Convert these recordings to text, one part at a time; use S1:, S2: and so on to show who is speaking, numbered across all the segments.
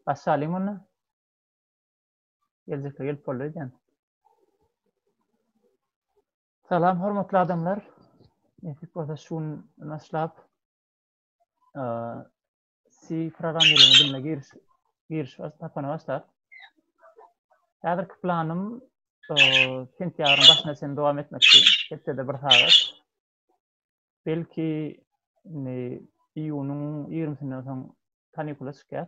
S1: Aşalyň muny. Geljekde gelip boldy diýen. Salam hormatly adamlar. Nesip bolsa şu gün başlap C programmirleme diline giriş giriş tapana başlap. Häzirki planym sentýabryň başyna çenli dowam etmekçi. Hepdede bir sagat. Belki ne iýunyň 20-sinden soň kanikula çykýar.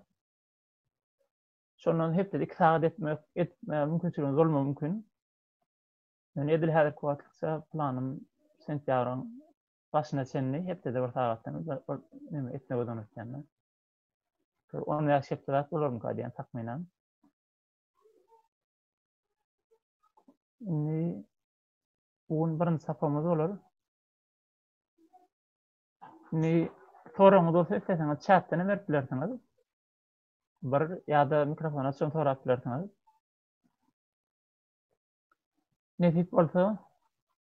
S1: Şondan hepdede 2 sagat etmek etme mümkinçiligimiz bolmagy mümkin. Yani edil häzirki wagtça planym sentýabryň başyna çenli hepdede bir sagatdan neme etme gözanyp ýanda. Şol 10 ýaş hepdedat bolarmy ka diýen takmynan. Indi bu gün birinji sapamyz bolar. Indi soragyňyz bolsa isteseňiz çatdan hem berip bilersiňiz. Bir ýa-da mikrofon açyň sorap bilersiňiz. Nesip bolsa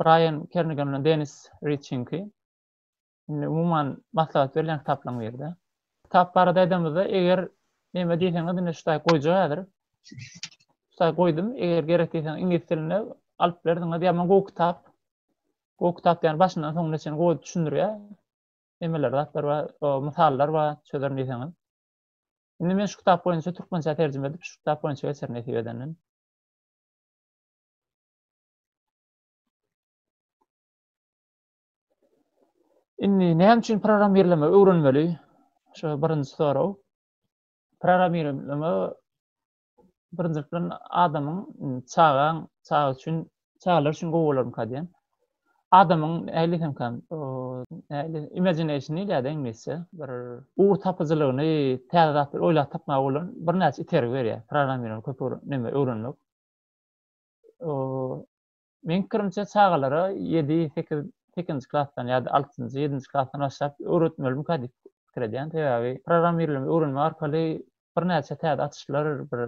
S1: Braýan Kernigan bilen Denis Riçinki. Indi umuman maslahat berilýän kitaplaryň biri-de. Kitap barada aýdanymyzda, eger näme diýseňiz, indi şu taýy goýjak häzir. Şu taýy goýdum, eger gerek diýseňiz, iňlis dilinde alyp bilersiňiz. Ýaman gowy kitap. Gowy kitap diýýän başyndan soňuna çenli gowy düşündirýär. Nemeler zatlar bar, o mysallar bar, çözerin diýseňiz. Indi men şu kitap boýunça türkmençä terjime edip, şu kitap boýunça geçerin nesip edenden. Indi näme üçin programmirleme öwrenmeli? Şu birinji sorag. Programmirleme birinji bilen adamyň çagaň çaga üçin çagalar üçin gowy bolarmyka diýen. Adamyň näli hem kan näli imaginationy ýa-da iňlisçe bir ugur tapyjylygyny täze zatlar oýlap tapmaga bolan birnäçe itergi berýär. Programmirleme köp neme öwrenmek. Meň pikirimçe çagalara ýedi, sekiz, sekizinji klasdan ýa-da altynjy, ýedinji klasdan başlap öwretmelimika diýip pikir edýän. Sebäbi programmirleme öwrenmek arkaly birnäçe täze açyşlar bir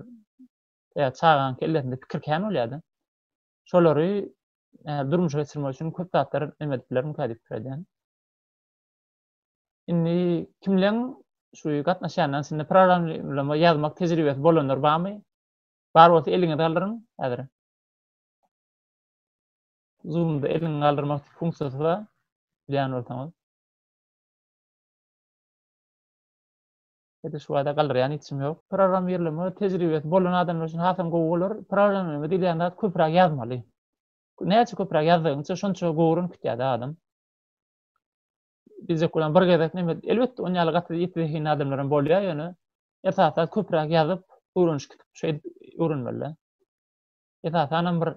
S1: ýa çagaň kellesinde pikir kän bolýar-da. Şolary durmuşa geçirmek üçin köp zatlar näme edip bilerimika diýip pikir edýän. Indi kimleň şu gatnaşýanlaryň içinde programmirleme ýazmak tejribesi bolanlar barmy? Bar bolsa eliňizi galdyryň häzir. Zoom'da elini galdyrmak funksiyasy bar. Bilýän bolsaňyz. Hede şu wada galdyrýan içim ýok. Programmirleme tejribesi bolan adamlar üçin hasam gowy bolar. Programmirleme diýilýän zat köpräk ýazmaly. Näçe köpräk ýazdygyňça şonça gowuran kütýär-de adam. Diýjek bolan bir gezek näme elbetde on ýaly gaty ýiti zehinli adamlar hem bolýar ýöne esasan köpräk ýazyp öwrenişip gitip şeýdip öwrenmeli. Esasan hem bir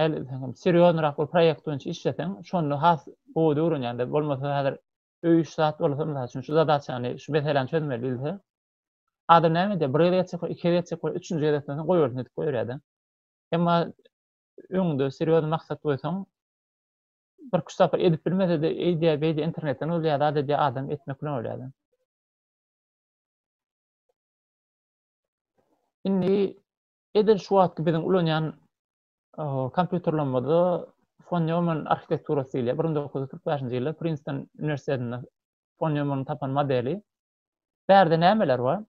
S1: näle diýsem hem serýoznyrak bir proýekt boýunça işleseň şonda has gowy öwrenýäňde bolmasa häzir öý iş zat bolsa mysal üçin şu zadaçany şu meseläni çözmeli diýilse adam näme diýär bir gezek etjek iki gezek etjek üçünji gezek etmesen goýbersin diýip goýberýärde. Emma öňde serýozny maksat goýsaň Birki sapar edip bilmesede eýdýä beýdýä internetden bolýa zat edýä adam etmek bilen bolýa adam. Indi edil şu wagtky biziň ulanýan kompýuterlerimizde von Neumann arhitekturasy diýilýär. 1945-nji ýylda Princeton uniwersitetinde von Neumann tapan modeli. Bärde nämeler bar?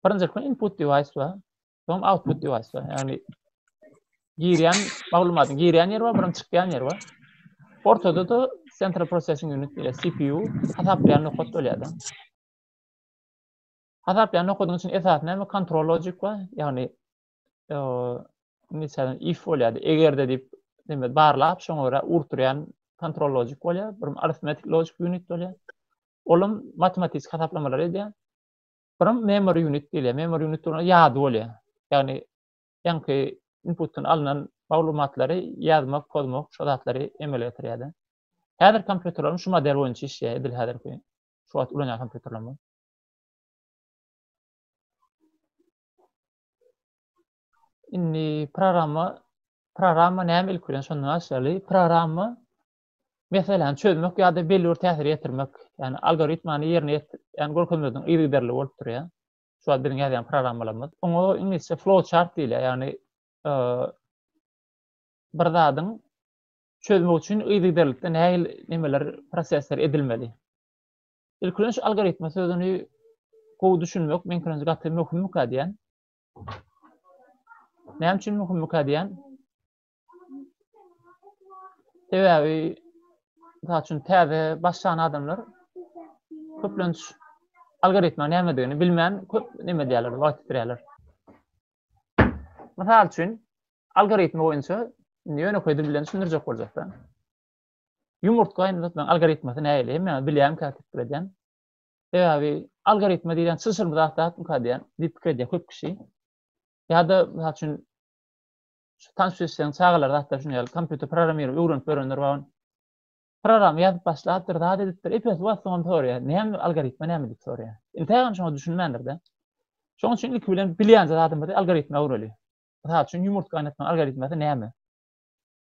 S1: Birinji input device bar. Soň output device bar. Ýagny girýän maglumatyň girýän ýeri bar, birim çykýan ýeri bar. Ortada da central processing unit diýilýär, CPU hasaplaýan nokat bolýar da. Hasaplaýan nokadyň üçin esas näme? Kontrol lojik bar. Ýagny inisiýadan if bolýardy. Eger de diýip, demek barlap, şoňa görä urturýan kontrol lojik bolýar. Bir arithmetik lojik unit bolýar. Olam matematiki hasaplamalar edýär. Birim memory unit diýilýär. Memory unit durana ýady bolýar. Ýagny ýaňky inputdan alnan maglumatlary ýazmak, pozmak, şo zatlary emele getirýär-de. Häzirki kompýuterlerim şu model boýunça işleýär, edil häzirki şu wagt ulanýan kompýuterlerim. Indi programma programma näme ilki bilen şondan başlaýaly. Programma meseläni çözmek ýa-da belli bir täsir ýetirmek, ýagny algoritmany ýerine ýetiren görkezmediň yzygiderli bolup durýar. Şu wagt biziň ýazýan programmalarymyz. Oňa iňlisçe flow chart diýilýär, ýagny e, bir zadyň çözmek üçin yzygiderlikde nähili nemeler, prosesler edilmeli. Ilk bilen şu algoritma sözüni gowy düşünmek meň pikirimçe gaty möhümmikä diýen. Näme üçin möhümmikä diýen? Sebäbi mysal üçin täze başlan adamlar köplenç algoritma nämedigini bilmän köp näme edýärler, wagt ýitirýärler. Mysal üçin algoritma boýunça indi ýönekeý dil bilen düşündirjek boljakda. Ýumurtga indi tutmaň algoritmasy nähili? Hemme bilýän käte pikir edýän. Sebäbi algoritma diýen çylşyrymly zat zatmyka diýen diýip pikir edýär köp kişi. Ýa-da mysal üçin şu tanyş eşiden çagalar zatda şuny ýaly kompýuter programmir öwrenip ýörenler bar. Program ýazyp başlapdyr, zat edipdir. Epes wagt soňam soraýar. Näme algoritma näme diýip soraýar. Intägem şoňa düşünmändir-de. Şoň üçin ilki bilen bilýän zadymyzy algoritma öwreli. Mysal üçin ýumurt gaýnatma algoritmasy näme?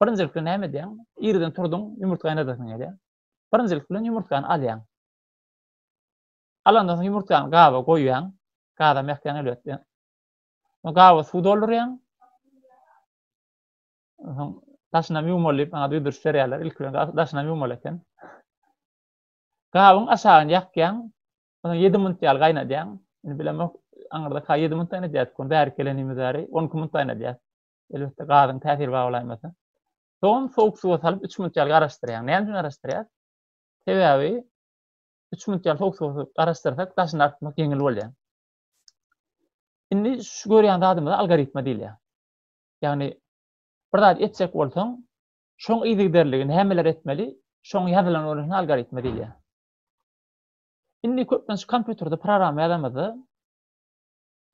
S1: Birinjilik bilen näme edýäň? Irden turduň, ýumurt gaýnadasyň gelýär. Birinjilik bilen ýumurtgany alýaň. Alandan soň ýumurtgany gaba goýýaň. Gazam ýakýaň elbetde. Gaba suw doldurýaň. Soň daşynam ýuwmaly diýip maňa duýduryş berýärler. Ilki bilen daşynam ýuwmaly eken. Gabyň aşagyny ýakýaň. Ondan 7 minut ýaly gaýnadýaň. Indi bilemok, aňyrda ka 7 minut gaýnadýardyk ony bärik gelenimiz bäri 12 minut gaýnadýar. Elbetde gazyň täsiri bar bolaýmasa. Soň sowuk suwa salyp 3 minut ýaly garaşdyrýaň. Näme üçin garaşdyrýas? Sebäbi 3 minut ýaly sowuk suwa salyp garaşdyrsak daşyny artmak ýeňil bolýar. Indi şu görýän zadymyza algoritma diýilýär. Ýagny bir zat etjek bolsaň, şoň yzygiderligi nämeler etmeli, şoň ýazylan bolsa algoritma diýilýär. Indi köplenç kompýuterde programma ýazamyzda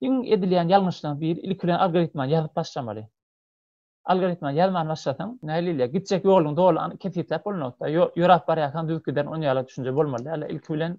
S1: iň edilýän ýalňyşlaryň biri ilki bilen algoritmany ýazyp başlamaly. Algoritmany ýazman başlasaň, näle diýilýär, gitjek ýoluň doly kesgitläp bolunokda, ýöräp barýarkaň düzüp giderin, onýaly düşünje bolmaly däl. Ilki bilen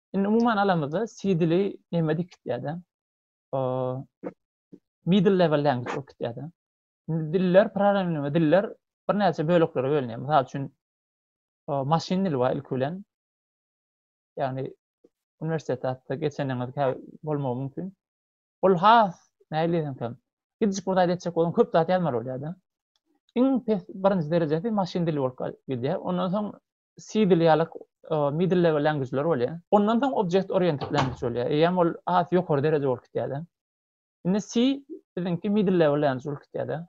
S1: Indi umuman alamyzda CD-li näme dikitýär-de? Middle level language okutýar-da. Indi diller, programmirleme diller birnäçe böleklere bölünýär. Mysal üçin, maşyn dili bar ilki bilen. Ýagny uniwersitet hatda geçeniňiz kä bolmagy mümkin. Ol has nähili diýsem, gidişik bir zat etjek bolsaň köp zat ýazmaly bolýar-da. Iň pes birinji derejesi maşyn dili bolup gidýär. Ondan soň CDL ýaly middle level language-ler bolýar. Ondan soň object oriented language bolýar. Eýýäm ol has ýokary dereje bolup gidýär-de. Indi C biziňki middle level language bolup gidýär-de.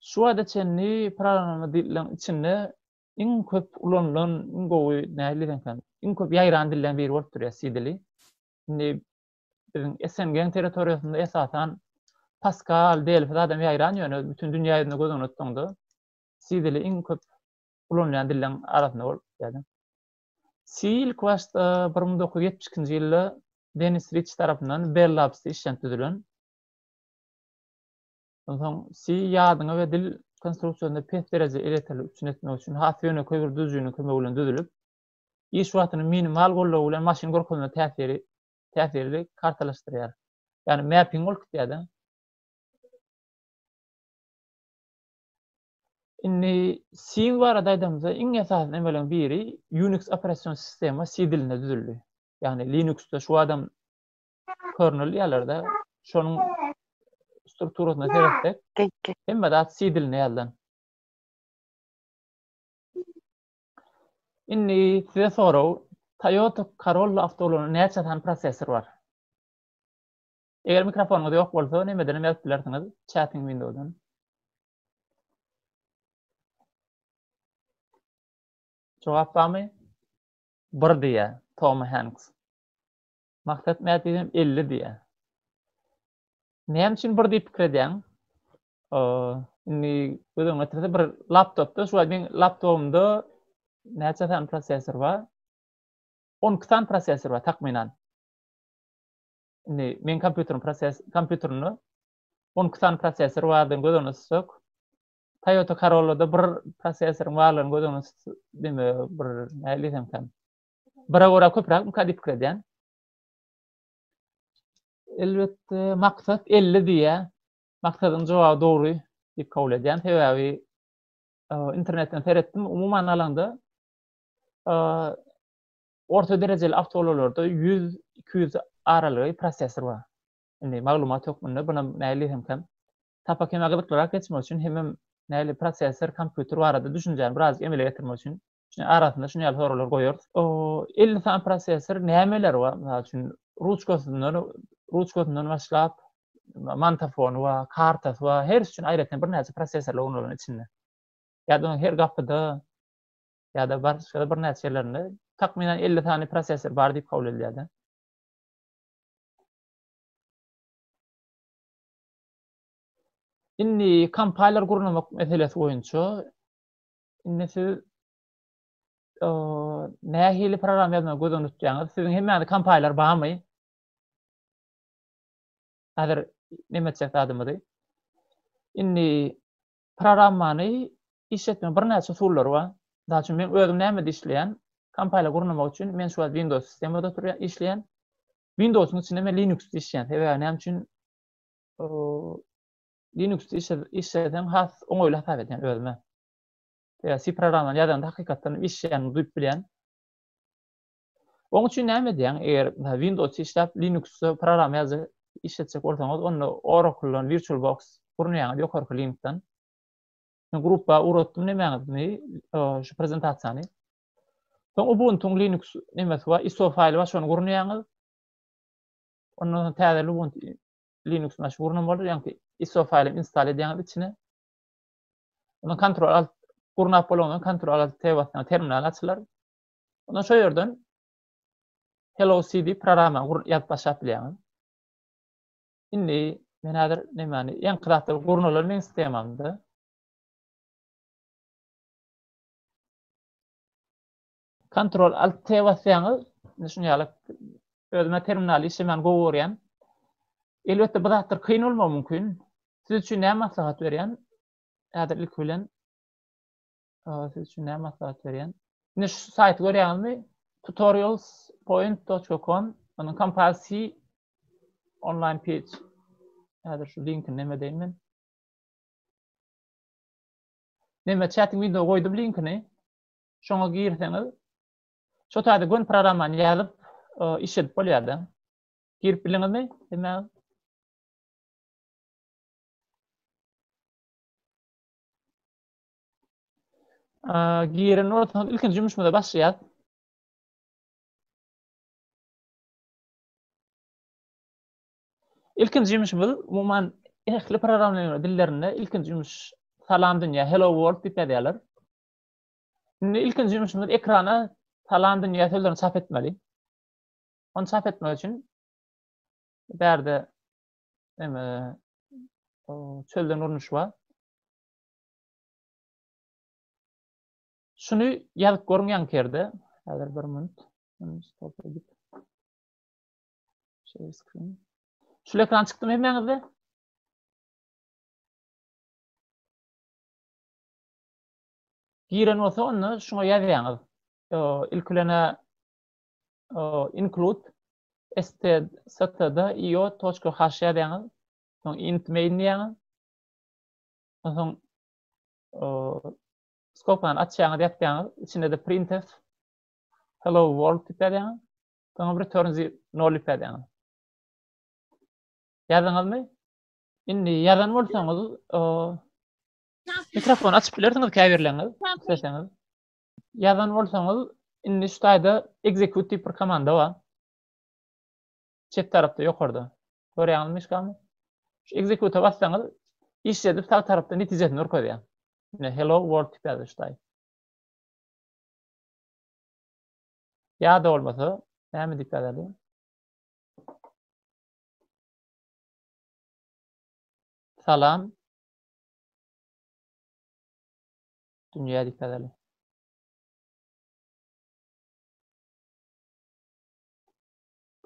S1: Şu wagta çenli programma dilleriň içinde iň köp ulanylan, iň gowy nähili diýseňkäm, iň köp ýaýran dilleriň biri bolup durýar C dili. Indi biziň SNG-niň territoriýasynda esasan Pascal, Delphi zadam ýaýran, ýöne bütin dünýä ýüzünde göz öňüne tutsaňda, C dili iň köp ulanylýan dilleň arasynda bolup ýaly. C ilk başda 1972-nji ýylda Denis Riç tarapyndan Bell Labs işlenip düzülen. Onsoň C ýadyňy we dil konstruksiýasyny pes derejede elektrik üçin etmek üçin has ýönekeý bir düzüjiniň kömegi bilen düzülip, iş wagtyny minimal goldaw bilen maşyn görkezme täsiri täsirli kartalaşdyrýar. Ýagny mapping bolup gitýär-de. Indi Syn barada aýdamyzda, iň esasy emeleriň biri Unix operasion sistema C dilinde düzüldi. Ýagny Linuxda şu adam kernel diýerlerde şonuň strukturasyna seretsek, hemme zat C dilinde ýazylan. Indi size sorag, Toyota Corolla awtoulagyna näçe sany prosessor bar? Eger mikrofonyňyz ýok bolsa, nämedenem ýazyp bilersiňiz, chatting window-dan. Jogap barmy? Bir diýä, Tom Hanks. Maksat Mätijem 50 diýä. Näme üçin bir diýip pikir edýäň? Indi göz öňüne getirse bir laptopda, şu meň laptopumda näçe sany prosessor bar? 12 sany prosessor bar takmynan. Indi men kompýuteriň proses kompýuterinde 12 sany prosessor bardygyny göz öňüne tutsek, Toyota Corolla-da bir prosessoryň barlygyny göz öňüne tut, deme, bir näle diýsem kan. Bire görä köpräk mika diýip pikir edýän. Elbetde, maksat 50 diýýä. Maksadyň jogaby dogry diýip kabul edýän. Sebäbi internetden seretdim, umuman alanda, Orta derejeli awtoulalarda ýüz, iki ýüz aralygy prosessor bar. Indi maglumat hökmünde buna mäli hemkem. Sapak hemä gyzyklyrak geçmek üçin hemem mäli prosessor, kompýuter barada düşünjäni birazajyk emele getirmek üçin şuny arasynda şuny ýaly soraglary goýarys. Elli sany prosessor nämeleri bar? Mysal üçin, ruçkasyndan, ruçkasyndan başlap, mantafony bar, kartasy bar, hersi üçin aýratyn birnäçe prosessorlar ornadylan içinde. Ýa-da her gapyda, ýa-da başga birnäçe ýerlerinde takmynan elli sany prosessor bar diýip kabul edilýär-de. Indi kompayler gurnamak meselesi boýunça indi siz nähili program ýazmagy göz öňünde tutýaňyz? Siziň hemmäňizde kompayler barmy? Häzir näme etjek adymyzy? Indi programmany iş etmegiň birnäçe usullary bar. Mysal üçin, men özüm nämede işleýän? Kompaýler gurnamak üçin men şu wagt Windows sistemada oturýan, işleýän. Windows-yň içinde men Linux-da işleýän. Sebäbi näme üçin? Linux-da işleseň has oňaýly hasap edýän özüme. Sebäbi C programmany ýazanda hakykatdan işleýänini duýup bilýän. Oň üçin näme edýäň? Eger Windows işläp, Linux-da program ýazyp işletjek bolsaňyz, onda Oracle-dan VirtualBox gurnaýaňyz ýokarky linkden. Men gruppa uratdym nemäňizni, şu prezentasiýany. Soň Ubuntu-nyň Linux nemesi bar, ISO faýly bar, şony gurnaýaňyz. Ondan soň täze Ubuntu Linux maşyn gurnan bolar, ýagny ISO faýly install edýäňiz içine. Ondan kontrol alt gurnap bolandan kontrol alt T basýaň, terminal açylar. Onda şu yerden Hello CD programma gur ýazyp başlap bilýäňiz. Indi men häzir nämäni ýeňki zatda gurnalar meň sistemamda. Ctrl Alt T basýaňyz, indi şuny ýaly özüme terminal işlemän gowy görýän. Elbetde bu zatlar kyn bolmagy mümkin. Siz üçin näme maslahat berýän? Häzir ilki bilen Siz üçin näme maslahat berýän? Indi şu saýty görýäňizmi? tutorialspoint.com onuň kompazisi online page. Häzir şu linkini näme deýin men? Näme chat wideo goýdum linkini. Şoňa girseňiz şu taýda gün programmany ýazyp e, iş edip bolýar-da. Girip biliňizmi? Demek Giren ortadan ilkinji jümüşmüze başlaýar. İlkinji jümüşmüz umuman ehli programlama dillerinde ilkinji jümüş salam dünya hello world diýip ýazýarlar. Şimdi ilkinji jümüşmüz ekrana salam dünya sözlerini çap etmeli. Onu çap etmek için bärde çölden urnuş var. Şuny ýazyp görüň ýankerde. Häzir bir minut. Share screen. Şu ekran çykdymy hemmäňizde? Giren bolsa onda şuňa ýazýaňyz. İlk bilene include std io.h ýazýaňyz. Soň int main diýýäňiz. Onsoň skopany açýaňyz, ýapýaňyz, içinde-de printf hello world diýip ýazýaňyz. Soňam return 0 diýip ýazýaňyz. Ýazdyňyzmy? Indi ýazan bolsaňyz, mikrofon açyp bilersiňiz käbirleriniz, isleseňiz. Ýazan bolsaňyz, indi şu taýda execute diýip bir komanda bar. Çep tarapda ýokarda. Görýäňizmi myşkamy? Şu execute bassaňyz, iş edip sag tarapda netijesini görkezýär. Ine hello world tipýardy şu taýy. Ýa-da bolmasa, näme diýip ýazardy? Salam. Dünýä diýip ýazardy.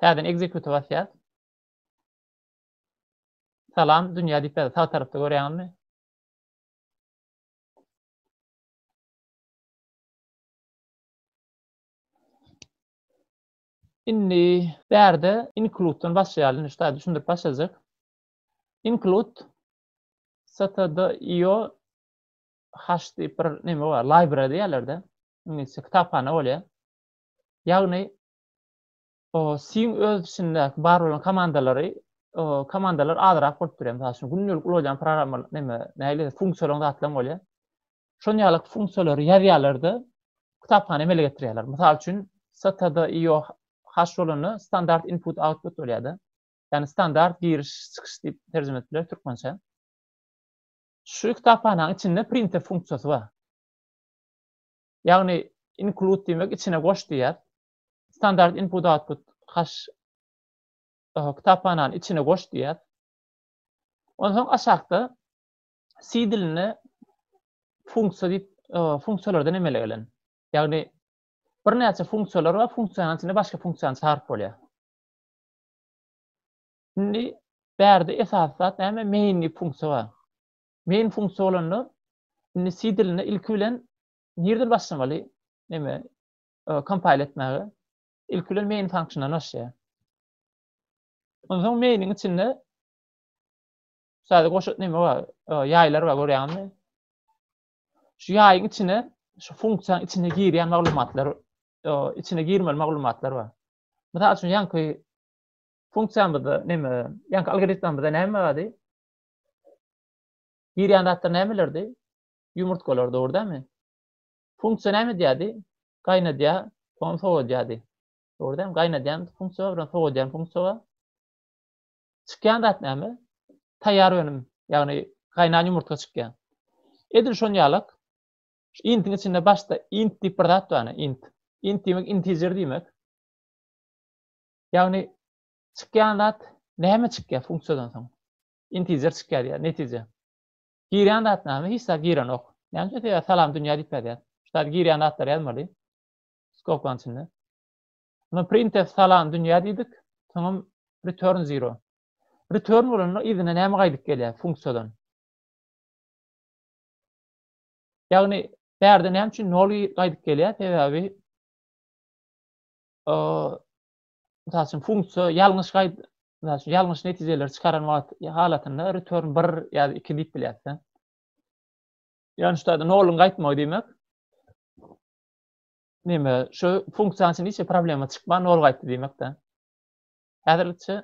S1: Täzeden execute basýas. Salam dünýä diýip ýazdy. Sag tarapda görýäňizmi? Indi bärde include-dan başlaýaly, indi şuda düşündirip başlajak. Include std.io hash diýip bir neme bar, library diýerlerde. Ingilisçe kitaphana bolýar. Ýagny Steam öz içindäki bar bolan komandalary, komandalar azrak bolup durýar. Mysal üçin, gündelik ulanýan programma, näme, nähili funksiýalaryň zatlaryň bolýar. Şon ýaly funksiýalary ýazýarlar-da, kitaphana emele getirýärler. Mysal üçin, std.io hash bolanda standart input-output bolýar-da. Ýagny standart giriş-çykyş diýip terjime edip bileris türkmençe. Şu kitaphanaň içinde printer funksiýasy bar. Ýagny include diýmek içine goş diýýär. Standart input output hash kitaphanany içine goş diýýär. Onsoň aşakda C dilinde funksiýa diýip funksiýalardan emele gelen. Ýagny birnäçe funksiýalar we funksiýanyň içinde başga funksiýany çagyryp bolýar. Indi bärde esasy zat näme? Main diýip funksiýa bar. Main funksiýa bolanda indi C dilinde ilki bilen nirden başlamaly? Näme? kompile etmäge ilki bilen main function açýar. Ondan mainin içinde sadece goşut neme var? Yaylar var görýän mi? Şu yayın içine şu funksiýanyň içine girýän maglumatlar içine girmeli maglumatlar bar. Mysal üçin ýaňky funksiýamyzda neme, ýaňky algoritmimizde näme bardy? Girýän zatlar nämelerdi? Ýumurtgalar dogry dämi? Funksiýa näme edýärdi? Gaýnadýar, soňra sowadýardy. Dogry däl, gaýnadýan funksiýa bilen sowadýan funksiýa bar. Çykýan zat näme? Taýýar önüm, ýagny gaýnan ýumurtga çykýar. Edil şon ýalak, şu intiň içinde başda int diýip bir zat bar, int. Int diýmek integer diýmek. Ýagny çykýan zat näme çykýar funksiýadan soň? Integer çykýar diýýär, netije. Girýän zat näme? Hiç zat girenok. Näme sebäp salam dünýä diýip ýazýar. Şu zat girýän zatlar ýazmaly. Skobkaň içinde. Buna printf salam dünýä diýdik. Soňam return zero. Return bolanda yzyna näme gaýdyp gelýär funksiýadan? Ýagny bärde näme üçin nol gaýdyp gelýär? Sebäbi mysal üçin funksiýa ýalňyş gaýt mysal üçin ýalňyş netijeleri çykaran wagt halatynda return 1 ýa 2 diýip bilýäs sen. Ýani şu taýda noluň gaýtmagy diýmek. Näme, şu funksiýanyň içinde hiç problema çykman nol gaýtdy diýmek-de. Häzirlikçe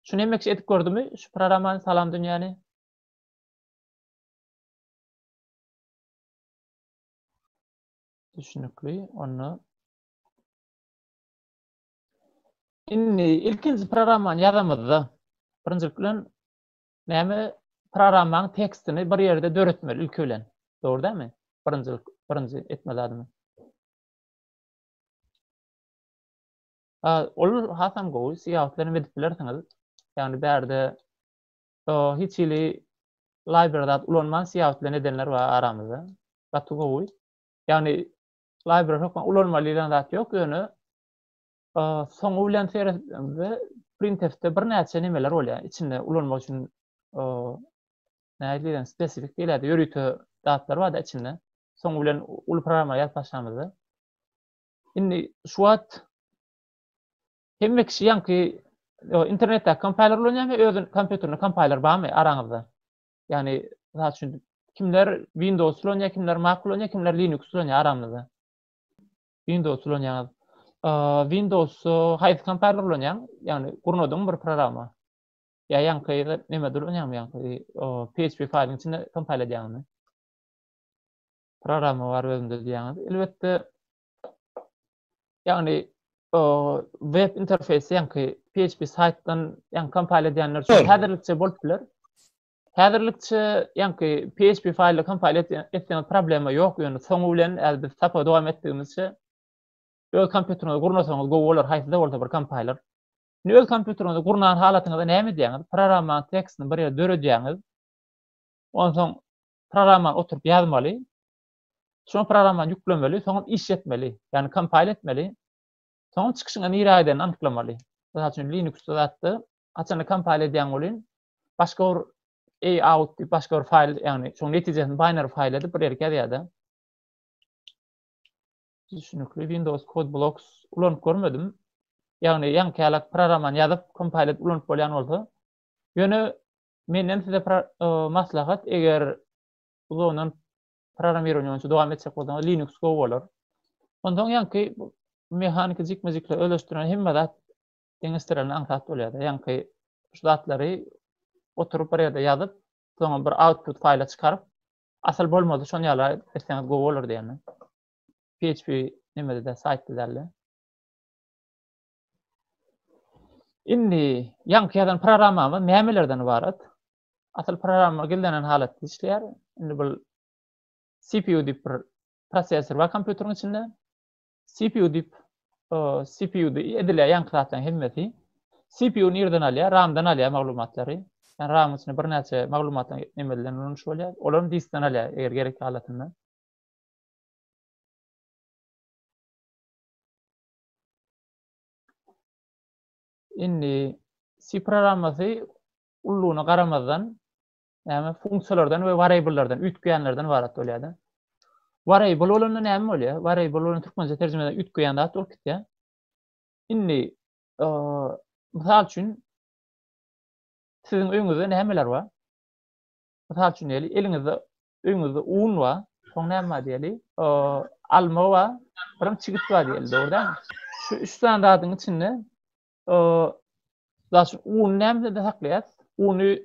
S1: şu näme iş edip gördümi? Şu programmany salam dünýäni. Düşünükli, onda Indi ilkinji programmany ýazamyzda, birinjilik bilen näme programmanyň tekstini bir ýerde döretmeli ilki bilen. Dogry dämi? Birinji birinji etme zadymy? Ha, ol hasam gowy, siýahatlar hem edip bilersiňiz. Ýagny bärde o hiç hili library zat ulanman siýahat bilen edenler bar aramyzda. Gaty gowy. Ýagny library hökman ulanma diýlen zat ýok, ýöne soňy bilen seretdiňizde printfde bir näçe nemeler bolýar, içinde ulanmak üçin nädip spesifik diýilýär, ýörite zatlar bar-da içinde. Soňy bilen uly programma ýazyp başlamyzda. Indi şu wagt hemme kişi ýaňky internetde kompýuter ulanýarmy, özüniň kompýuterinde kompýuter barmy araňyzda? Yani, misal üçin, kimler Windows ulanýar, kimler Mac ulanýar, kimler Linux ulanýar aramyzda? Windows ulanýar. Windows haýsy kompaniýa ulanýar? Yani, gurnadyň bir programma. Ya ýaňky ýerde näme ulanýarmy ýaňky? PHP faýlyň içinde kompil edýärmi? Programma bar özünde diýýäňiz. Elbetde, Ýagny web interfeýsi ýaňky PHP saýtdan ýaňky kompile edýänler üçin häzirlikçe bolup biler. Häzirlikçe ýaňky PHP faýly kompile etseňiz problema ýok, ýöne soňy bilen äl biz sapa dowam etdigimizçe öz kompýuteriňizi gurnasaňyz gowy bolar, haýsy-da bolsa bir kompailer. Indi öz kompýuteriňizi gurnan halatyňyzda näme edýäňiz? Programmanyň tekstini bir ýerde döredýäňiz. Onsoň programmany oturyp ýazmaly. Şol programmany ýüklemeli, soňam iş etmeli. Ýagny kompile etmeli. Soňam çykyşyňa nirä gidenini anyklamaly. Mysal üçin Linux-da zatda haçanda kompile edýän welin başga bir a out diýip başga bir faýl, ýagny şoň netijesini binary faýl edip bir ýerki ýazýar-da. Düşünikli Windows Code Blocks ulanyp görmedim. Ýagny ýaňkälak programmany ýazyp kompile edip ulanyp bolýan bolsa. Ýöne menden size maslahat eger uzagyndan programmirowaniýe boýunça dowam etjek bolsaňyz Linux gowy bolar. Ondan ýaňky mehaniki jikme-jikle özleşdirilen hemme zat deňeşdirilen aňsat bolýar. Ýaňky şu zatlary oturyp bir ýerde ýazyp, soňra bir output faýla çykaryp, asyl bolmady şon ýala etseňiz gowy bolar diýýän. PHP nimede de saýtda däldi. Indi ýaňky ýazan programmamyz nämelerden ybarat? Asyl programma gizlenen halatda işleýär. Indi bu CPU diýip bir prosessor bar kompýuteriň içinde. CPU diýip CPU diýip edilýär ýaňky zatlaryň hemmesi. CPU nirden alýar? RAM-dan alýar maglumatlary. Yani RAM-yň içinde birnäçe maglumatlar emelinden ulanyş bolýar. Olar diskden alýar eger gerek halatynda. Indi C programmasy ullugyna garamazdan, näme funksiýalardan we wariablelerden, üýtgeýänlerden ibarat bolýar-da. Wariable bolanda näme bolýar? Wariable bolan türkmençe terjimede üýtgeýän zat bolup gitýär. Indi mysal üçin siziň öňüňizde nämeler bar? Mysal üçin, eliňizde öýüňizde un bar, soň näme bar diýeli? Alma bar, birim çigit bar diýeli, dogry dälmi? Şu üç sany zadyň içinde zaşy uny nämede saklaýas? Uny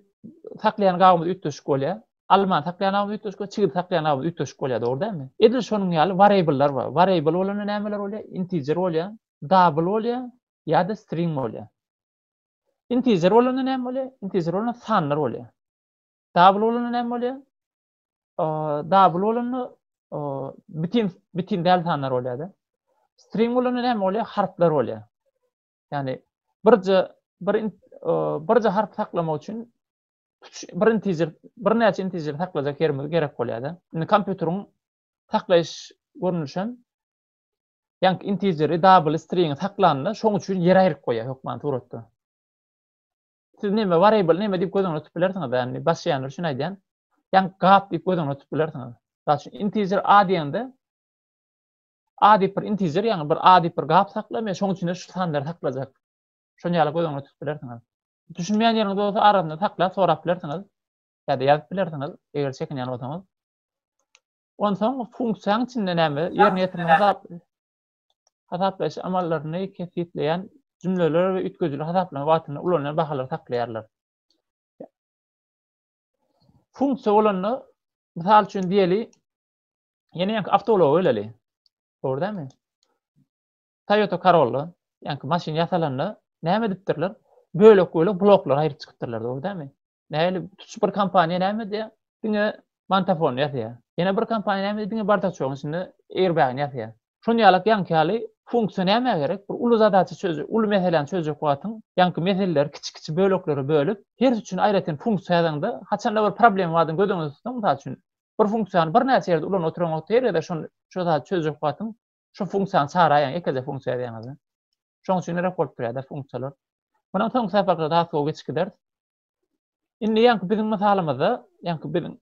S1: saklaýan gabymyz üýtgeşik bolýar. Almany saklaýan gabymyz üýtgeşik bolýar, çigidi saklaýan gabymyz üýtgeşik bolýar, dogry dälmi? Edil şonuň ýaly wariableler bar. Wariable bolanda nämeler bolýar? Integer bolýar, double bolýar ýa-da string bolýar. Integer bolanda näme bolýar? Integer bolanda sanlar bolýar. Double bolanda näme bolýar? Double bolanda bitin bitin däl sanlar bolýar-da. String bolanda näme bolýar? Harplar bolýar. Ýagny birje bir birje harp saklamak üçin bir integer, bir näçe integer saklajak ýerimiz gerek bolýar-da. Indi kompýuteriň saklaýyş görnüşi hem ýank integeri, double string saklanda şoň üçin ýer aýryp goýýar hökman suratda. Siz näme variable näme diýip göz öňüne tutup bilersiňiz, ýagny başlaýanlar üçin aýdýan. Ýagny gap diýip göz öňüne tutup bilersiňiz. Mysal üçin integer a diýende a diýip bir integer, ýagny bir a diýip bir gap sakla, men şoň üçin şu sanlary saklajak. Şoň ýaly göz öňüne tutup bilersiňiz. Düşünmeýän ýeriňiz bolsa arasynda saklap sorap bilersiňiz. Ýa-da ýazyp bilersiňiz, eger çekinýän bolsaňyz. Onsoň funksiýanyň içinde näme ýerine ýetirmegi hasaplaýyş amallaryny kesgitleýän jümleler we üýtgedijili hasaplama wagtynda ulanylýan bahalary saklaýarlar. Funksiýa bolanda, mysal üçin diýeli, ýene ýanky awtoulaga geleli. Dogry dälmi? Toyota Corolla, ýanky maşyn ýasalanda näme edipdirler? Bölek-bölek bloklar aýryp çykypdyrlar, dogry dälmi? Näli tutuş bir kompaniýa näme diýýär? Diňe Mantafon ýazýar. Ýene bir kompaniýa näme diýýär? Diňe bardaçogyň içinde airbag ýazýar. Şon ýalak ýaňky ýaly funksiýa näme gerek? Bir uly zadaça çözjek, uly meseläni çözjek wagtyň ýaňky meseleleri kiçi-kiçi böleklere bölüp, hersi üçin aýratyn funksiýa ýazaňda, haçanda bir problem bardygyny göz öňünde tutuň, mysal üçin, bir funksiýany birnäçe ýerde ulanyp oturan wagty her gezek şony şo zady çözjek wagtyň şu funksiýany çagyrýan ýekeje funksiýa ýazyň. Şoň üçin gerek bolup durýar-da funksiýalar. Mundan soňky saparda daha sow geçip gideris. Indi ýaňky biziň mysalymyzda, ýaňky biziň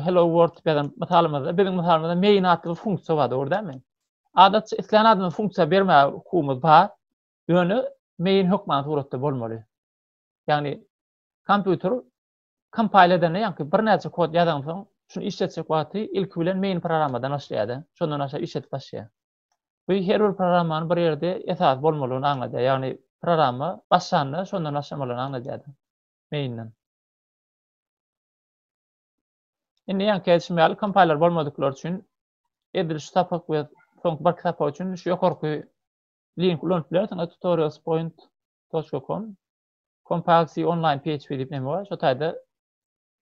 S1: hello world ýazan mysalymyzda, biziň mysalymyzda main atly bir funksiýa bar, dogry dälmi? Adatça isleýän adamy funksiýa berme hukumymyz bar. Ýöne main hökman suratda bolmaly. Ýagny kompýuter Kompile edende ýaňky birnäçe kod ýazaňsoň, şuny işletjek wagty ilki bilen main programmadan başlaýarda, şondan aşa işletip başlaýar. Bu her bir programmanyň bir ýerde esasy bolmalygyny aňladýar, ýagny programma başlanda şondan başlamalygyny aňladýarda, main-den. Indi ýaňky aýdyşym ýaly kompiler bolmadyklar üçin edil şu sapak we soňky birki sapak üçin şu ýokarky link ulanyp bilersiňiz tutorialspoint.com Compaxi online PHP diýip näme bar? Şu taýda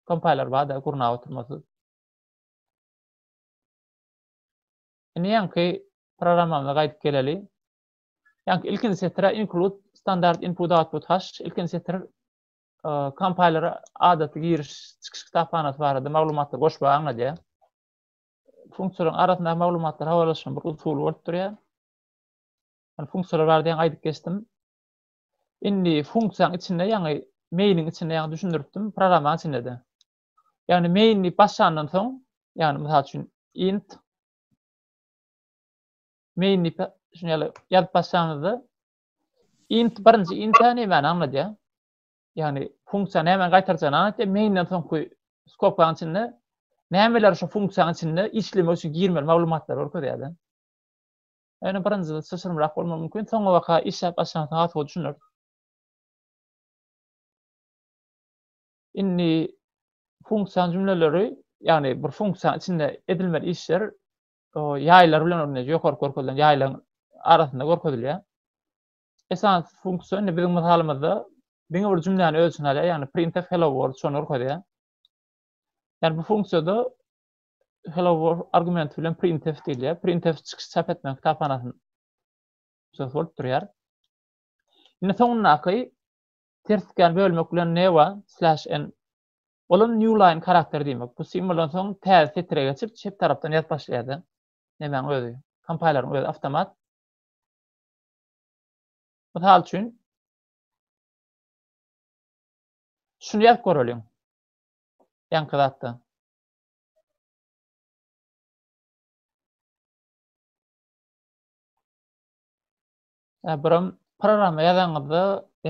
S1: kompaylar bar-da gurnap oturmasyz. Indi ýaňky programmamyza gaýdyp geleli. Ýaňky ilkinji setre include standard input output hash ilkinji setir kompaylara e, adaty giriş çykyş kitaphanasy barada maglumatlar goşmagy aňladýar. Funksiýalaryň arasynda maglumatlar habarlaşygyň bir usuly bolup durýar. Yani funksiýalar barada ýaňy aýdyp geçdim. Indi funksiýaň içinde ýaňy main-iň içinde ýaňy düşündiripdim, programmaň içinde-de. Ýagny main diýip başlandan soň, ýagny mysal üçin int main diýip şuny ýaly ýazyp başlanyňyzda int birinji int nämäni aňladýar? Ýagny funksiýa nämäni gaýtarjagyny aňladýar. Main-den soňky skopkaň içinde nämeler şu funksiýaň içinde işlemek üçin girmeli maglumatlary görkezýär-de. Ýöne birinjide çylşyrymrak bolmagy mümkin, soňabaka işläp başlansa has gowy düşüner. Indi funksiýa jümleleri, ýagny bir funksiýanyň içinde edilmeli işler ýaýlar bilen örneje ýokarky görkezilen ýaýlaryň arasynda görkezilýär. Esasy funksiýa indi biziň mysalymyzda diňe bir jümläni öz içine alýar, ýagny printf hello world şony görkezýär. Ýagny bu funksiýada Hello World argumenti bilen printf gelýär. Printf çykyş çap etmän kitaphanasyny söz bolup durýar. Indi soňundaky ters tikýän bölmek bilen ne bar? Slash n. Olam new line karakteri diýmek. Bu simwoldan soň täze setire geçip çep tarapdan ýazyp başlaýardy. Nemäň özi? Kompaylaryň özi awtomat. Mysal üçin şuny ýazyp göreliň. Ýaňky zatda. Birim programma ýazanyňyzda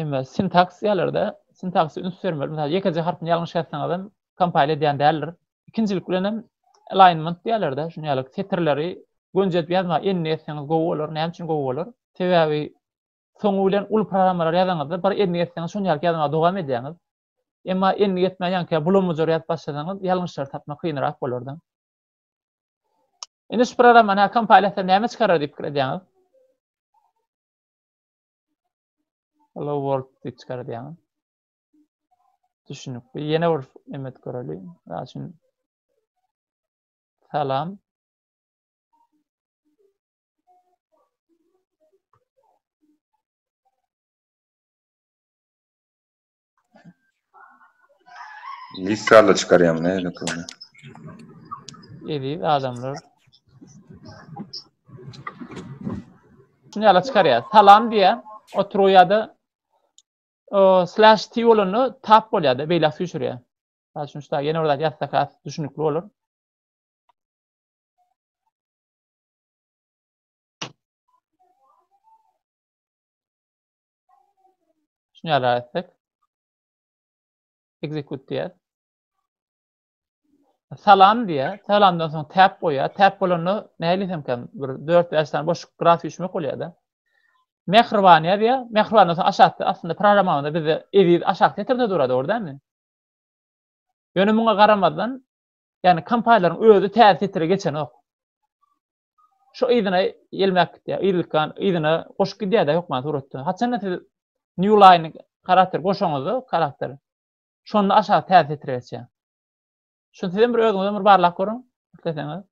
S1: emme sintaks ýerlerde sintaksa üns bermeli. Mesela ýekeje harpyny ýalňyş ýazsaňyz hem kompile edýän däldir. Ikinjilik bilen hem alignment diýerlerde şuny ýaly setirleri gönjedip ýazma enne ýetseňiz gowy bolar. Näme üçin gowy bolar? Sebäbi soňy bilen uly programmalar ýazanyňyzda bir enne ýetseňiz şuny ýaly ýazma dowam edýäňiz. Emma endik etmän ýaňky bulamujur ýazyp başlasaňyz, ýalňyşlary tapmak kynrak bolardy. Indi şu programmany hakam paýlaşsa näme çykarar diýip pikir edýäňiz? Hello world diýip çykarar diýýäňiz. Düşünikli. Ýene bir emet göreli. Raşyn. Salam. Listarla çykarýam ne dokony. Eziz adamlar. Şunu ýala çykarýar. Salam diýä. Oturuw ýa-da slash t bolanda tap bolýar da beýle süýşürýär. Saz üçin şuda ýene bir zat ýazsak has düşünikli bolar. Şunu ýaly etsek. Execute diýer. Salam diýer. Salamdan soň tab goýar. Tab bolanda näli hemkem bir 4-5 sany boşluk graf üçmek bolýar-da. Mähriban ýazýar. Mähribandan soň aşakda aslynda programmamyzda bizde eziz aşak setirde durady, dogry dälmi? Ýöne muňa garamazdan, ýagny kompýuterleriň özi täze setire geçenok. Şo yzyna ýelmäp gitýär. Yzlykan yzyna goşup gidýär-de hökman suratda. Haçanda siz New Line karakter goşaňyzda karakter. Şonda aşak täze setre geçýär. Şu sizem bir özüňizem bir barlap görüň, isleseňiz.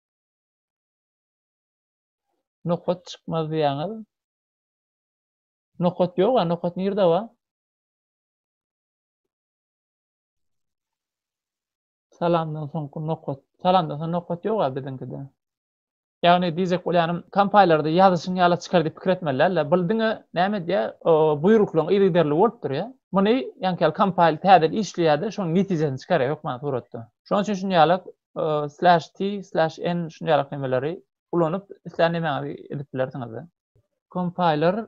S1: Nokat çykmaz diýýäňiz. Nokat ýok-a, nokat nirde bar? Salamdan soňky nokat. Salamdan soň nokat ýok a biziňkide. Ýagny diýjek bolýanym, kompailerda ýazyşyň ýala çykar diýip pikir etmeli däl-de. Bul diňe näme edýär? Buýruklaryň yzygiderli bolup durýar. Muny ýaňky ýaly kompail täzeden işleýär-de, şonuň netijesini çykarýar hökmany suratda. Şonuň üçin şuny ýaly slash t, slash n şuny ýaly nemeleri ulanyp islän nemäňizi edip bilersiňiz-de. Kompailer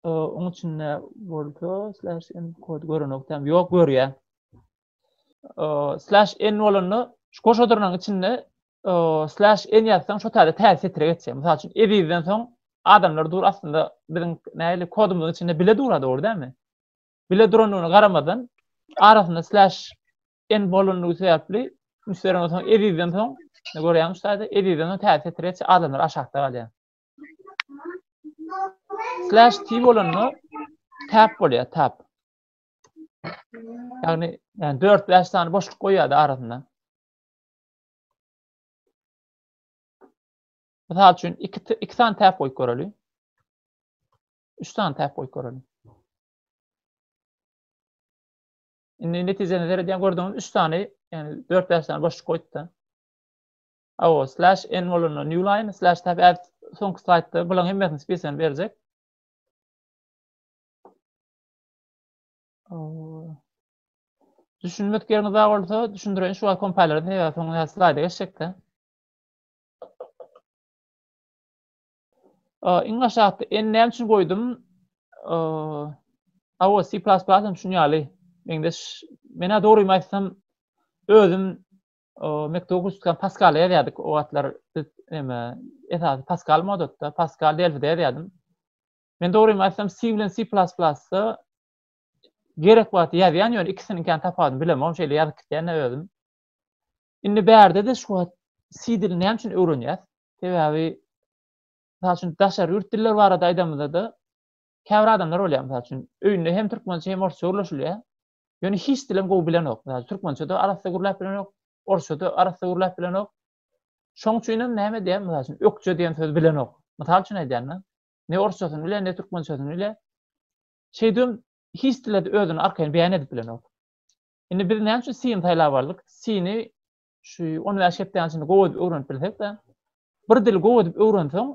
S1: oň içinde bolsa slash n kod görenok däl. Ýok, görýär. slash n bolanda şu goşa durnaň içinde slash n ýazsaň şu täze täze setre geçýär. Mysal üçin ezizden soň adamlar dur aslynda biziň näli kodumyzyň içinde bile durady dogry dälmi? Bile durandygyna garamadan arasynda slash n bolandygy sebäpli müşderiden soň ezizden soň ne görýämiz şu täze ezizden soň täze setre geçýär adamlar aşakda galýar. Slash t bolanda tap bolýar tap. Ýagny, ýagny 4-5 sany boşluk goýýardy arasynda. Mysal üçin, 2 2 sany täp goýup göreli. 3 sany täp goýup göreli. Indi netijäni seredýän gördüňiz, 3 sany, ýagny 4-5 sany boşluk goýupdy. Awa, slash n bolanda new line, slash tab add soňky slaýdda bularyň hemmesini spesiýany berjek. Düşünmek ýeriňiz bar bolsa, düşündireýin şu wagt kompaniýalary sebäbi soňra slaýda geçjekde. Iň aşakda en näme üçin goýdum? Awa C++ hem şuň ýaly. Mende menä dogrymy aýtsam özüm mekdebe guşdykam Pascal ýazýardyk o wagtlar biz näme esasy Pascal modatda Pascal Delphi-de ýazýardym. Men dogrymy aýtsam C bilen C++ da gerek wagty ýazýan ýöne ikisiniň kan tapawudyny bilemok hem şeýle ýazyp gitýän özüm. Indi bärde de şu wagt C dilini näme üçin öwrenýäs? Sebäbi Mysal üçin daşary ýurt diller barada aýdamyzda da käbir adamlar bolýar mysal üçin öýünde hem türkmençe hem orsça gürleşilýär. Ýöne hiç dilem gowy bilenok. Mysal türkmençe de arassa gürläp bilenok, orsça da arassa gürläp bilenok. Şoň üçin hem näme diýýär? Mysal üçin ökje diýen sözi bilenok. Mysal üçin aýdýan-da. ne orsçasyny bile, ne türkmençesini bile. Şeýdibem hiç dilde özüni arkaýyn beýan edip bilenok. Indi biz näme üçin sini saýlap aldyk? Sini şu 15 hepdäniň içinde gowy edip öwrenip bilsek-de, bir dili gowy edip öwrenseň,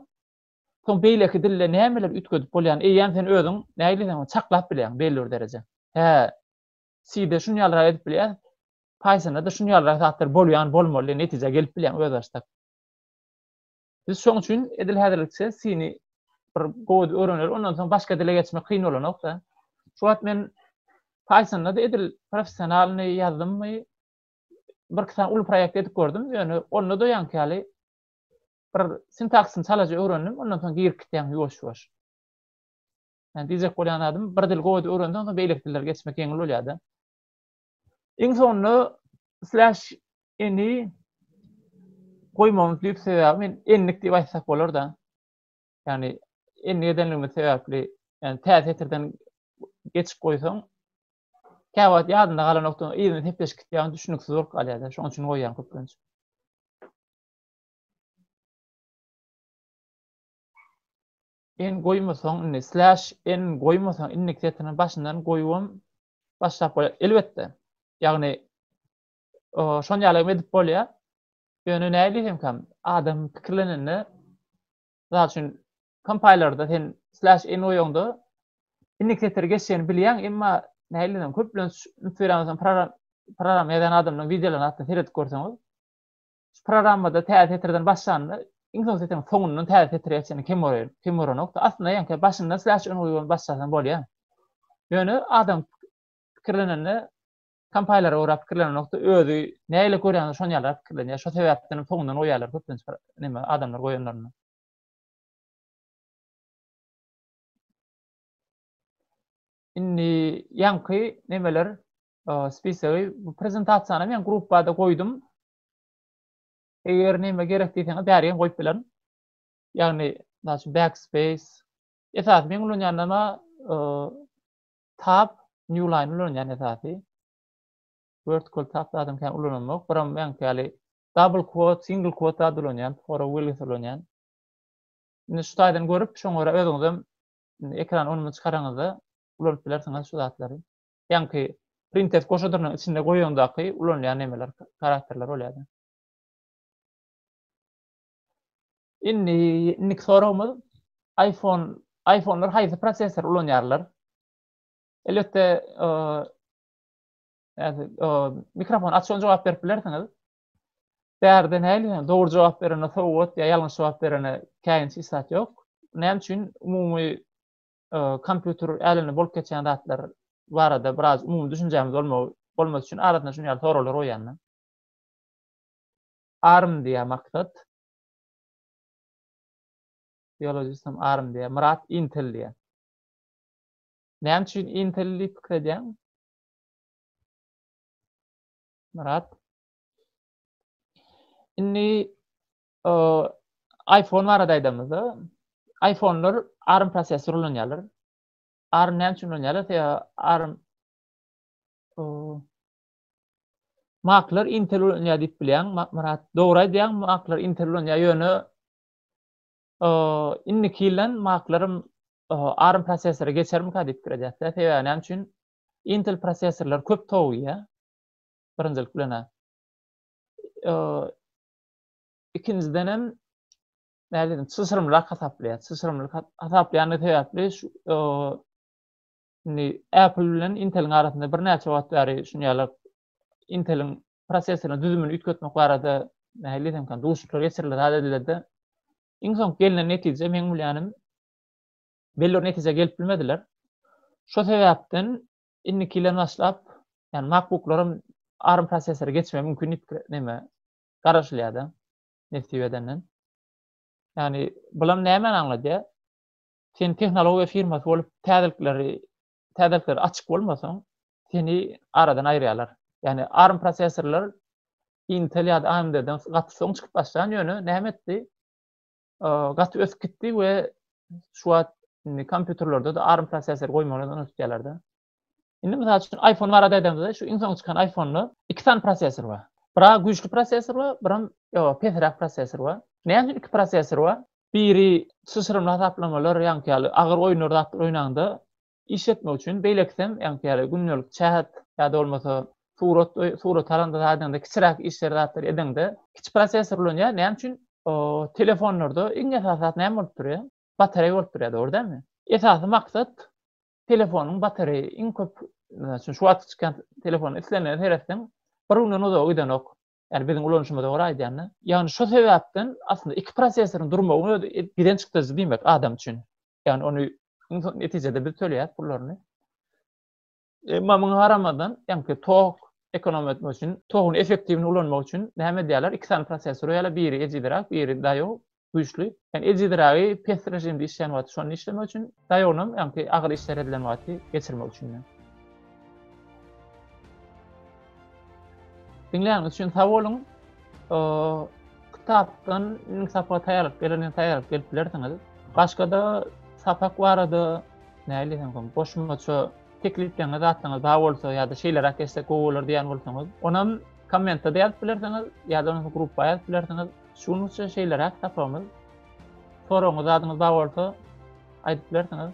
S1: soň beýleki dilde nämeler üýtgedip bolýan, eýýäm sen özüň nägiliseň çaklap bilýäň belli bir derejä. Hä, side şuny ýalyrak edip bilýär, Pythonda-da şuny ýalyrak zatlar bolýan bolmaly, netijä gelip bilýäň özbaşdak. Biz şoň üçin edil häzirlikçe sini bir gowy öwreneris, ondan soň başga dile geçmek kyn bolanok-da. Şu wagt men Python-da edil professionalny ýazdymmy, bir iki sany uly proýekt edip gördüm, ýöne onda da ýaňky ýaly bir sintaksyny çalaja öwrendim, ondan soň girip gitýän ýuwaş-ýuwaş. Yani diýjek bolýan adym, bir dil gowy öwrendiň, soň beýleki dillere geçmek ýeňil bolýar-da. Iň soňunda slash eni goýmagymyz düýp sebäbi men enlik diýip aýtsak bolar-da. Ýagny enlik edenligimiz sebäpli, ýagny tä setirden geçip goýsaň, käwagt ýadynda galan nokta yzyna sepleşip gitýär, düşüniksiz bolup galýar-da, şonuň üçin goýýan köplenç. en goýmasaň indi slash en goýmasaň indeksetirini başyndan goýubam başlap bolýar. Elbetde. Ýagny şon ýaly hem edip bolýar. Ýöne näli hem kam adam pikirlenende zat üçin kompaylarda sen slash en oýunda inni keter geçýän bilýän emma näli hem köp bilen üns berýän program program ýazan adamlaryň wideolaryny atda seret görseňiz Şu programmada täze setirden başlanda, iň soň setiriň soňundan täze setire geçende kem bolar, kem bolanokdy. Aslynda ýaňky başyndan slash ün guýup başlasaň bolýar. Ýöne adam pikirlenende kompailara görä pikirlenenokdy, özi nähili görýänini şony ýaly pikirlenýär. Şo sebäpden hem soňundan goýýarlar köplenç neme adamlar goýanlarynda. Indi ýaňky nemeler Spisigi bu prezentasiýany men gruppada goýdum. Eger näme gerek diýseňiz, bäri hem goýup bilerin. Ýagny, näçe backspace. Esas men ulanýanlama tab new line ulanýan esasy. Vertical tab zadyny kän ulanamok. Biram men ýaly double quote, single quote zat ulanýan, sonra willis ulanýan. Indi şu taýdan görüp, şoňa görä özüňizem ekran onuny çykaraňyzda ulanyp bilersiňiz şu zatlary. Ýaňky printf goşadynyň içinde goýaňdaky ulanylýan nemeler, karakterler bolýardy. Indi indiki soragymyz iPhone iPhone'lar haýsy prosessor ulanýarlar? Elbetde mikrofon açyň jogap berip bilersiňiz. Bärde näli dogry jogap berene sowgat ýa ýalňyş jogap berene käýinç islat ýok. Näme üçin umumy kompýuter älemi bolup geçýän zatlar barada biraz umumy düşünjämiz bolmagy bolmasy üçin arasynda şuny ýaly soraglar goýýan men. Arm diýýär Maksat. Biologistym Arm diýýär. Myrat Intel diýýär. Näme üçin Intel diýip pikir edýäň? Myrat. Indi iPhone barada aýdamyzda, iPhone'lar ARM prosessor ulanýarlar. ARM näme üçin ulanýarlar? Sebäbi ARM Maklar Intel ulanýar diýip bilýän, Murat. Dogry aýdýaň, maklar Intel ulanýar, ýöne indiki ýyldan maklarym ARM prosessory geçermikä diýip pikir edýärler. Sebäbi näme üçin? Intel prosessorlar köp towug ýa. Birinjilik bilen. ikinjiden hem nädedim çyşrymrak hasaplaýar. Çyşrymlyk hasaplaýany sebäpli şu indi Apple bilen Intel-iň arasynda birnäçe wagt bäri şuny ýaly Intel-iň prosesoryny düzümini üýtgetmek barada nähili diýsem kan duşuşyklar geçirildi zat edildi. Iň soň gelnen netije meň bilýänim belli bir netijä gelip bilmediler. Şo sebäpden indiki ýyldan başlap, ýani MacBooklar hem ARM prosesory geçmegi mümkin diýip näme garaşylýar-da, nesip edenden. Ýagny, bulam nämäni aňladýar? Sen tehnologiýa firmasy bolup, täzelikleri, täzelikleri açyk bolmasaň, seni aradan aýyrýarlar. Ýagny, ARM prosessorlar Intel ýa-da AMD-den gaty soň çykyp başlan, ýöne näme etdi? gaty ösüp gitdi we şu wagt indi kompýuterlerde de ARM prosessor goýmagyny öňe tutýarlar da. Indi mysal üçin iPhone barada aýdamyzda, şu iň soň çykan iPhone-da iki sany prosessor bar. Bira güýçli prosessor bar, biram ýo, pesräk prosessor bar. Näme üçin iki prosessor bar? Biri çyşyrymly hasaplamalar, ýaňky ýaly agyr oýunlar zatlar oýnanda, iş etmek üçin beýlekisem ýagny ýaly gündelik çähet ýa-da bolmasa surat surat alanda zadyňda kiçiräk işleri zatlary edeňde kiçi prosessor ulanýar näme üçin telefonlarda iň esasy zat näme bolup durýa batareý bolup durýa dogry dälmi esasy maksat telefonyň batareýi iň köp şu wagtky çykýan telefon islenene seretseň bir günden uzaga gidenok Ýagny biziň ulanyşymyza görä aýdanda, ýagny şo sebäpden aslynda iki prosesoryň durmagyň özi giden çykdajy diýmek adam üçin. Ýagny ony netijede biz töleýäs pullaryny. Emma muňa garamadan, ýagny tok ekonom etmek üçin, toguň effektiwini ulanmak üçin näme edýärler? Iki sany prosesor ýaly biri ejizräk, biri daýaw, güýçli. Yani ejiziragi pes rejimde işleýän wagty şonda işlemek üçin, daýawnam ýaňky agyr işler edilen wagty geçirmek üçin. Diňleýäniňiz üçin sag boluň. Kitapdan indi sapaga taýýarlyk gelende taýýarlyk gelip bilersiňiz. Başga-da sapak barada näli hem goşmaça teklipleňiz, zatlaňyz bar bolsa ýa-da şeýleräk geçsek gowy bolar diýýän bolsaňyz, onam kommentde ýazyp bilersiňiz ýa-da gruppa ýazyp bilersiňiz. Şunuň üçin şeýleräk tapawmyz. Soragyňyz zadyňyz bar bolsa aýdyp bilersiňiz.